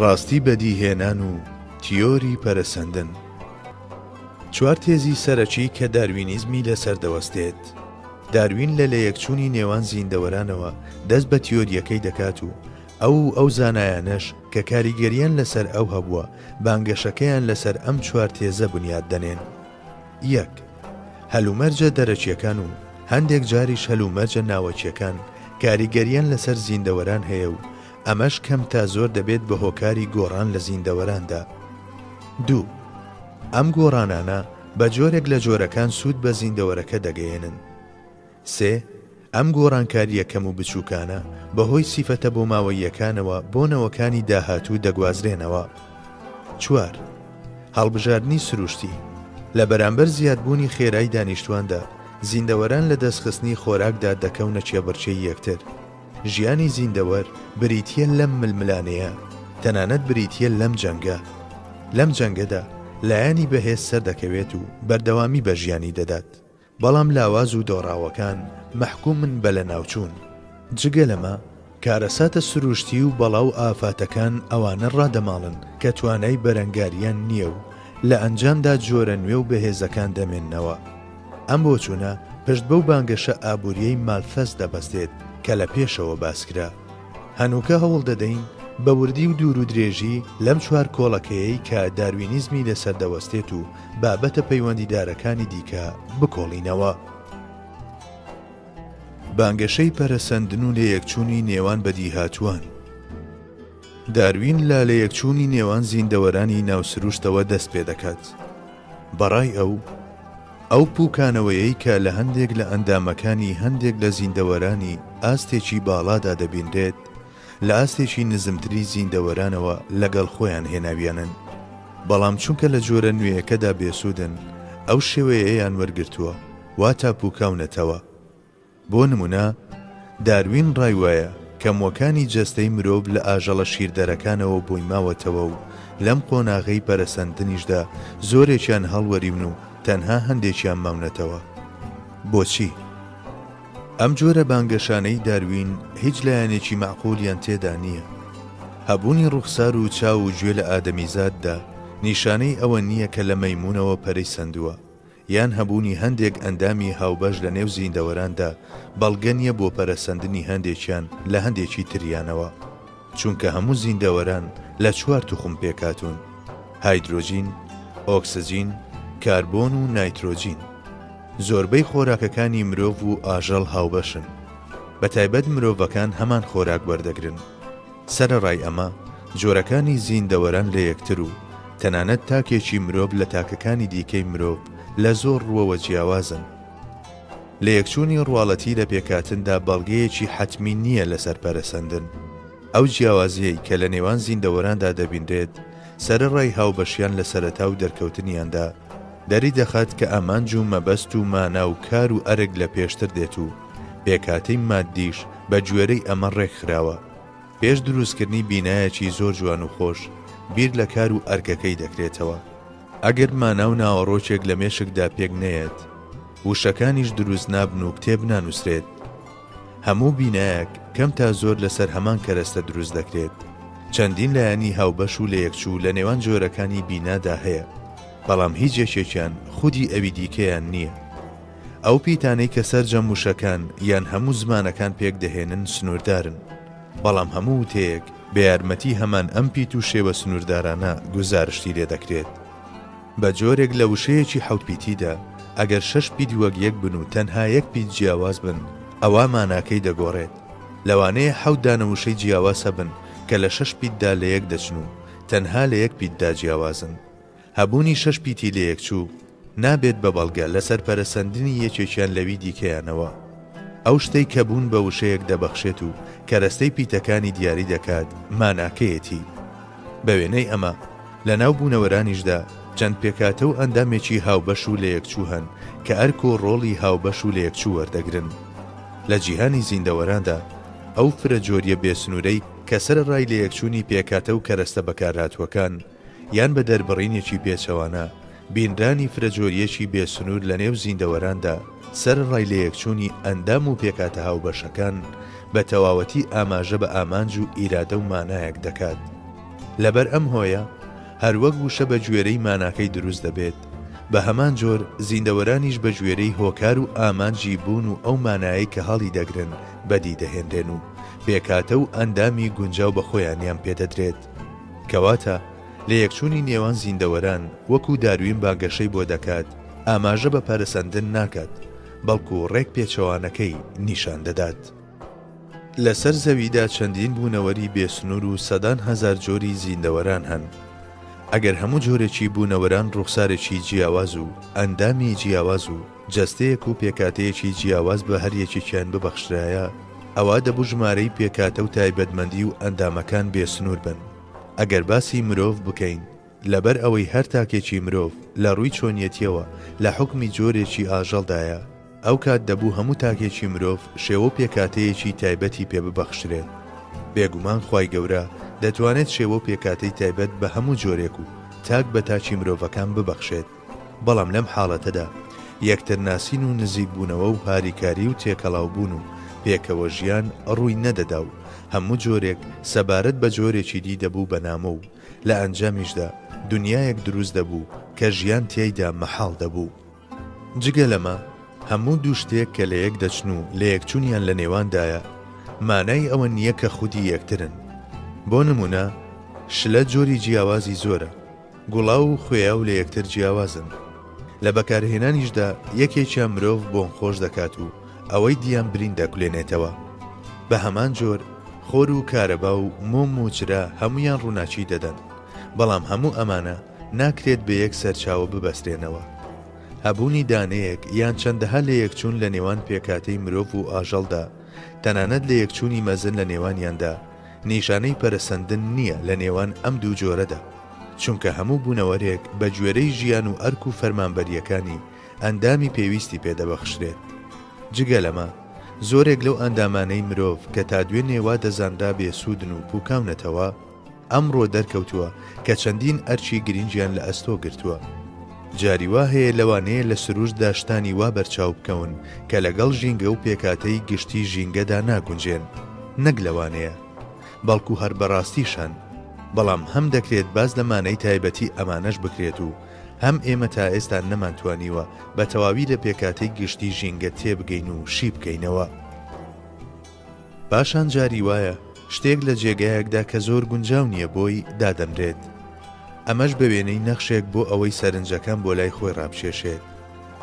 ڕاستی بەدیهێنان و تیۆری پەرەسەندن چوار تێزی سەرەکی کە داروینیزمی لەسەر دەوەستێت داروین لە لەیەکچوونی نێوان زیندەوەرانەوە دەست بە تیۆریەکەی دەکات و ئەو ئەو زانایانەش کە کاریگەریان لەسەر ئەو هەبووە بانگەشەکەیان لەسەر ئەم چوار تێزە بنیاد دەنێن یەک، هەلومەرجە دەرەکییەکان و هەندێک جاریش هەلومەرجە ناوەکییەکان کاریگەرییان لەسەر زیندەوەران هەیە و ئەمەش کەم تا زۆر دەبێت بە هۆکاری گۆڕان لە زیندەوەراندا. دوو، ئەم گۆڕانانە بە جۆرێک لە جۆرەکان سوود بە زیندەوەرەکە دەگەیەنن. سێ، ئەم گۆڕانکارییە کەم و بچووکانە، بەهۆی سیفەتە بۆماوەییەکانەوە بۆ نەوەکانی داهاتوو دەگوازرێنەوە. چوار، هەڵبژاردنی سروشتی، لە بەرامبەر زیادبوونی خێرای دانیشتواندا، زیندەوەران لە دەستخستنی خۆراکدا دەکەونە کێبڕکێی یەکتر. ژیانی زیندەوەر بریتییە لەم ململانێیە، تەنانەت بریتییە لەم جەنگە. لەم جەنگەدا، لایەنی بەهێز سەردەکەوێت و بەردەوامی بە ژیانی دەدات. بەڵام لاواز و دۆڕاوەکان مەحکومن بە لەناوچوون. جگە لەمە، کارەساتە سروشتی و بەڵا و ئافاتەکان ئەوانە ڕادەماڵن کە توانای بەرەنگاریان نییە و لە ئەنجامدا جۆرە نوێ و بەهێزەکان دەمێننەوە. ئەم بۆچوونە پشت بەو بانگەشە ئابوورییەی مالثەس دەبەستێت کە لە پێشەوە باسکرا. هەنووکە هەوڵ دەدەین بە وردی و دوور و درێژی لەم چوار کۆڵەکەیەی کە داروینیزمی لەسەر دەوەستێت و بابەتە پەیوەندیدارەکانی دیکە بکۆڵینەوە. بانگەشەی پەرەسەندن و لەیەکچوونی نێوان بەدیهاتووان داروین لە لەیەکچوونی نێوان زیندەوەرانی ناو سروشتەوە دەست پێ دەکات بەڕای ئەو، ئەو پووکانەوەیەی کە لە هەندێک لە ئەندامەکانی هەندێک لە زیندەوەرانی ئاستێکی باڵادا دەبینرێت، لە ئاستێکی نزمتری زیندەوەرانەوە لەگەڵ خۆیان هێناویانن. بەڵام چونکە لە جۆرە نوێیەکەدا بێسوودن، ئەو شێوەیەیان وەرگرتووە، واتا پووکاونەتەوە. بۆ نموونە، داروین ڕای وایە کە مووەکانی جەستەی مرۆڤ لە ئاژەڵە شیردەرەکانەوە بۆی ماوەتەوە و لەم قۆناغەی پەرەسەندنیشدا زۆرێکیان هەڵوەریون و تەنها هەندێکیان ماونەتەوە. بۆچی؟ ئەم جۆرە بانگەشانەی داروین هیچ لایەنێکی مەعقولیان تێدا نییە. هەبوونی ڕووخسار و چاو و گوێ لە ئادەمیزاددا نیشانەی ئەوە نییە کە لە مەیموونەوە پەرەی سەندووە، یان هەبوونی هەندێک ئەندامی هاوبەش لە نێو زیندەوەراندا بەڵگە نییە بۆ پەرەسەندنی هەندێکیان لە هەندێکی تریانەوە، چونکە هەموو زیندەوەران لە چوار توخم پێکهاتوون، هایدرۆجین، ئۆکسجین، کاربۆن و نایترۆجین. زۆربەی خۆراکەکانی مرۆڤ و ئاژەڵ هاوبەشن، بە تایبەت مرۆڤەکان هەمان خۆراک وەردەگرن. سەرەڕای ئەمە، جۆرەکانی زیندەوەران لە یەکتر و تەنانەت تاکێکی مرۆڤ لە تاکەکانی دیکەی مرۆڤ لە زۆر ڕووەوە جیاوازن. لەیەکچوونی ڕواڵەتی لە پێکهاتندا بەڵگەیەکی حەتمی نییە لەسەر پەرەسەندن. ئەو جیاوازییەی کە لە نێوان زیندەوەراندا دەبینرێت سەرەڕای هاوبەشیان لە سەرەتا و دەرکەوتنیاندا، دەریدەخات کە ئامانج و مەبەست و مانا و کار و ئەرک لە پێشتر دێت و، پێکهاتەی ماددیش بە گوێرەی ئەمە ڕێک خراوە. پێش دروستکردنی بینایەکی زۆر جوان و خۆش، بیر لە کار و ئەرکەکەی دەکرێتەوە. ئەگەر مانا و ناوەڕۆکێک لە مێشکدا پێک نەیەت، وشەکانیش دروست نابن و کتێب نانووسرێت. هەموو بینایەک کەم تا زۆر لەسەر هەمان کەرەستە دروست دەکرێت. چەندین لایەنی هاوبەش و لەیەکچوو لە نێوان جۆرەکانی بینادا هەیە، بەڵام هیچ یەکێکیان خودی ئەوی دیکەیان نییە. ئەو پیتانەی کە سەرجەم وشەکان یان هەموو زمانەکان پێک دەهێنن سنووردارن، بەڵام هەموو وتەیەک بە یارمەتی هەمان ئەم پیت و شێوە سنووردارانە گوزارشتی لێ دەکرێت. بە جۆرێک لە وشەیەکی حەوت پیتیدا، ئەگەر شەش پیت وەک یەک بن و تەنها یەک پیت جیاواز بن، ئەوا ماناکەی دەگۆڕێت. لەوانەیە حەوت دانە وشەی جیاواز هەبن کە لە شەش پیتدا لە یەک دەچن و تەنها لە یەک پیتدا جیاوازن. هەبوونی شەش پیتی لەیەکچوو نابێت بە بەڵگە لەسەر پەرەسەندنی یەکێکیان لەوی دیکەیانەوە. ئەو شتەی کە بوون بە وشەیەک دەبەخشێت و کەرەستەی پیتەکانی دیاری دەکات ماناکەیەتی. بە وێنەی ئەمە، لە ناو بوونەوەرانیشدا چەند پێکهاتە و ئەندامێکی هاوبەش و لەیەکچوو هەن کە ئەرک و ڕۆڵی هاوبەش و لەیەکچوو وەردەگرن. لە جیهانی زیندەوەراندا، ئەو فرەجۆرییە بێسنوورەی کە سەرەڕای لەیەکچوونی پێکهاتە و کەرەستە بەکارهاتووەکان، یان بە دەربڕینێکی پێچەوانە، بینرانی فرەجۆرییەکی بێ سنوور لە نێو زیندەوەراندا، سەرەڕای لەیەکچوونی ئەندام و پێکهاتە هاوبەشەکان، بە تەواوەتی ئاماژە بە ئامانج و ئیرادە و مانایەک دەکات. لەبەر ئەم هۆیە، هەروەک وشە بە گوێرەی ماناکەی دروست دەبێت، بە هەمان جۆر زیندەوەرانیش بە گوێرەی هۆکار و ئامانجی بوون و ئەو مانایەی کە هەڵی دەگرن بەدی دەهێنرێن و پێکهاتە و ئەندامی گونجاو بە خۆیانیان پێ دەدرێت. کەواتە لەیەکچوونی نێوان زیندەوەران وەکو داروین با گەشەی بۆ دەکات ئاماژە بە پەرەسەندن ناکات، بەڵکو ڕێک پێچەوانەکەی نیشان دەدات. لەسەر زەویدا چەندین بوونەوەری بێ سنوور و سەدان هەزار جۆری زیندەوەران هەن. ئەگەر هەموو جۆرێکی بوونەوەران ڕووخسارێکی جیاواز و ئەندامی جیاواز و، جەستەیەک و پێکاتەیەکی جیاواز بە هەر یەکێکیان ببەخشرایە، ئەوا دەبوو ژمارەی پێکاتە و تایبەتمەندی و ئەندامەکان بێ سنوور بن. ئەگەر باسی مرۆڤ بکەین، لەبەر ئەوەی هەر تاکێکی مرۆڤ لە ڕووی چۆنیەتییەوە لە حوکمی جۆرێکی ئاژەڵدایە، ئەو کات دەبوو هەموو تاکێکی مرۆڤ شێوە و پێکاتەیەکی تایبەتی پێ ببەخشرێت. بێگومان خوای گەورە دەتوانێت شێوە و پێکاتەی تایبەت بە هەموو جۆرێک و تاک بە تاکی مرۆڤەکان ببەخشێت. بەڵام لەم حاڵەتەدا یەکترناسین و نزیکبوونەوە و هاریکاری و تێکەڵاوبوون و پێکەوە ژیان ڕووی نەدەدا و هەموو جۆرێک سەبارەت بە جۆرێکی دی دەبوو بە نامۆ و لە ئەنجامیشدا دنیایەک دروست دەبوو کە ژیان تیایدا مەحاڵ دەبوو. جگە لەمە، هەموو دوو شتێک کە لە یەک دەچن و لەیەکچوونیان لە نێواندایە، مانای ئەوە نییە کە خودی یەکترن. بۆ نموونە، شلە جۆری جیاوازی زۆرە، گوڵاو و خوێاو لە یەکتر جیاوازن. لە بەکارهێنانیشدا یەکێکیان مرۆڤ بۆنخۆش دەکات و ئەوەی دیان برین دەکولێنێتەوە. بە هەمان جۆر خۆر و کارەبا و مۆم و چرا هەموویان ڕووناکی دەدەن، بەڵام هەموو ئەمانە ناکرێت بە یەک سەرچاوە ببەسترێنەوە. هەبوونی دانەیەک یان چەندەها لەیەکچوون لە نێوان پێکهاتەی مرۆڤ و ئاژەڵدا، تەنانەت لەیەکچوونی مەزن لە نێوانیاندا، نیشانەی پەرەسەندن نییە لە نێوان ئەم دوو جۆرەدا، چونکە هەموو بوونەوەرێک بە گوێرەی ژیان و ئەرک و فەرمانبەرییەکانی ئەندامی پێویستی پێ دەبەخشرێت. جگە لەمە، زۆرێک لەو ئەندامانەی مرۆڤ کە تا دوێنێ وا دەزانرا بێسوودن و پووکاونەتەوە، ئەمڕۆ دەرکەوتووە کە چەندین ئەرکی گرینگیان لە ئەستۆ گرتووە. جاری وا هەیە لەوانەیە لە سروشتدا شتانی وا بەرچاو بکەون کە لەگەڵ ژینگە و پێکهاتەی گشتی ژینگەدا ناگونجێن، نەک لەوانەیە، بەڵکو هەر بەڕاستیش هەن. بەڵام هەم دەکرێت باس لە مانای تایبەتی ئەمانەش بکرێت و هەم ئێمە تا ئێستا نەمانتوانیوە بە تەواوی لە پێکهاتەی گشتی ژینگە تێبگەین و شیبکەینەوە. پاشان جاری وایە شتێک لە جێگایەکدا کە زۆر گونجاو نییە بۆی، دادەنرێت. ئەمەش بە وێنەی نەخشێک بۆ ئەوەی سەرنجەکان بۆ لای خۆی ڕابکێشێت.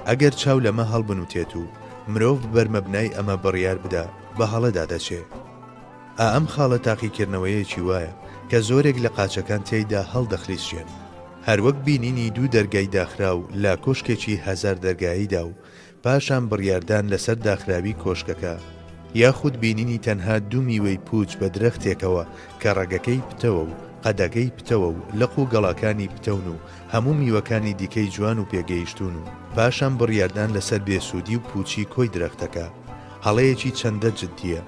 ئەگەر چاو لەمە هەڵبنوتێت و مرۆڤ بەر مەبنای ئەمە بڕیار بدا، بە هەڵەدا دەچێ. ئا ئەم خاڵە تاقیکردنەوەیەکی وایە کە زۆرێک لە قاچەکان تیایدا هەڵدەخلیسکێن. هەروەک بینینی دوو دەرگای داخراو لە کۆشکێکی هەزار دەرگاییدا و پاشان بڕیاردان لەسەر داخراوی کۆشکەکە، یاخود بینینی تەنها دوو میوەی پووچ بە درەختێکەوە کە ڕەگەکەی پتەوە و قەدەکەی پتەوە و لق و گەڵاکانی پتەون و هەموو میوەکانی دیکەی جوان و پێگەیشتوون و پاشان بڕیاردان لەسەر بێسوودی و پووچی کۆی درەختەکە هەڵەیەکی چەندە جدییە.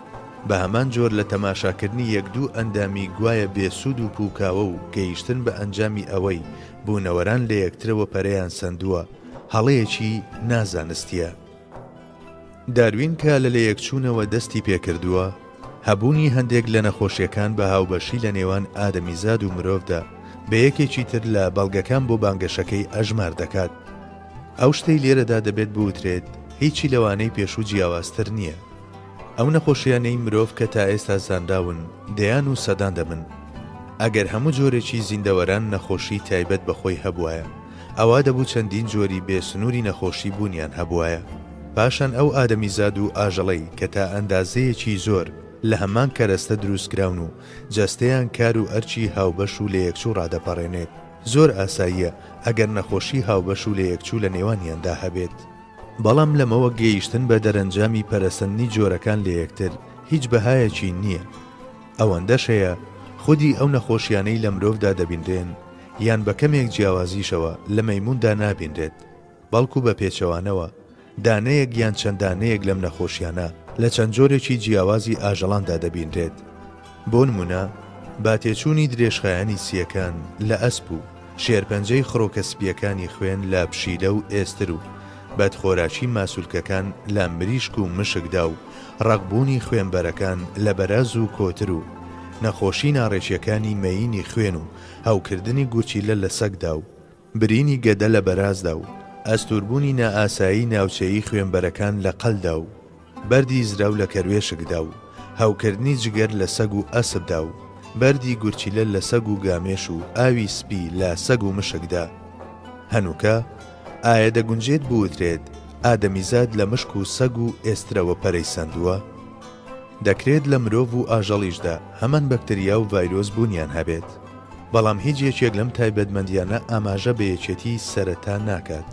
بە هەمان جۆر لە تەماشاکردنی یەک دوو ئەندامی گوایە بێسوود و پووکاوە و گەیشتن بە ئەنجامی ئەوەی بوونەوەران لە یەکترەوە پەرەیان سەندووە، هەڵەیەکی نا زانستیە. داروین کە لە لەیەکچوونەوە دەستی پێکردووە، هەبوونی هەندێک لە نەخۆشیەکان بە هاوبەشی لە نێوان ئادەمیزاد و مرۆڤدا بە یەکێکی تر لە بەڵگەکان بۆ بانگەشەکەی ئەژمار دەکات. ئەو شتەی لێرەدا دەبێت بوترێت هیچی لەوانەی پێشوو جیاوازتر نیە. ئەو نەخۆشیانەی مرۆڤ کە تا ئێستا زانراون دەیان و سەدان دەبن. ئەگەر هەموو جۆرێکی زیندەوەران نەخۆشی تایبەت بە خۆی هەبوایە، ئەوا دەبوو چەندین جۆری بێ سنووری نەخۆشی بوونیان هەبوایە. پاشان ئەو ئادەمیزاد و ئاژەڵەی کە تا ئەندازەیەکی زۆر لە هەمان کەرەستە دروستکراون و جەستەیان کار و ئەرکی هاوبەش و لەیەکچوو ڕادەپەڕێنێت، زۆر ئاساییە ئەگەر نەخۆشی هاوبەش و لەیەکچوو لە نێوانیاندا هەبێت. بەڵام لەمەوە گەیشتن بە دەرەنجامی پەرەسەندنی جۆرەکان لە یەکتر هیچ بەهایەکی نییە. ئەوەندەش هەیە خودی ئەو نەخۆشیانەی لە مرۆڤدا دەبینرێن، یان بە کەمێک جیاوازیشەوە لە مەیمووندا نابینرێت، بەڵکو بە پێچەوانەوە دانەیەک یان چەند دانەیەک لەم نەخۆشیانە لە چەند جۆرێکی جیاوازی ئاژەڵاندا دەبینرێت، بۆ نموونە با تێچوونی درێژخایەنی سییەکان لە ئەسپ و شێرپەنجەی خڕۆکە سپییەکانی خوێن لە پشیلە و ئێستر و بەدخۆراکی ماسولکەکان لە مریشک و مشکدا و ڕەقبوونی خوێنبەرەکان لە بەراز و کۆتر و نەخۆشی ناڕێکییەکانی مەیینی خوێن و هەوکردنی گورچیلە لە سەگدا و برینی گەدە لە بەرازدا و ئەستووربوونی نائاسایی ناوچەیی خوێنبەرەکان لە قەلدا و بەردی زراو لە کەروێشکدا و هەوکردنی جگەر لە سەگ و ئەسپدا و بەردی گورچیلە لە سەگ و گامێش و ئاوی سپی لە سەگ و مشکدا هەنووکە؟ ئایا دەگونجێت بوترێت ئادەمیزاد لە مشک و سەگ و ئێسترەوە پەرەی سەندووە؟ دەکرێت لە مرۆڤ و ئاژەڵیشدا هەمان بەکتریا و ڤایرۆس بوونیان هەبێت، بەڵام هیچ یەکێک لەم تایبەتمەندیانە ئاماژە بە یەکێتی سەرەتا ناکات.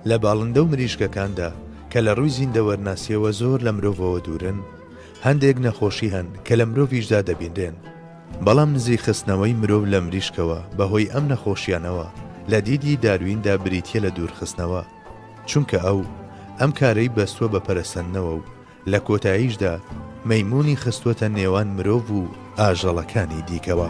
لە باڵندە و مریشکەکاندا، کە لە ڕووی زیندەوەرناسییەوە زۆر لە مرۆڤەوە دوورن، هەندێک نەخۆشی هەن کە لە مرۆڤیشدا دەبینرێن، بەڵام نزیکخستنەوەی مرۆڤ لە مریشکەوە بەهۆی ئەم نەخۆشیانەوە لە دیدی دارویندا بریتییە لە دوورخستنەوە، چونکە ئەو ئەم کارەی بەستووە بە پەرەسەندنەوە و لە کۆتاییشدا مەیموونی خستووەتە نێوان مرۆڤ و ئاژەڵەکانی دیکەوە.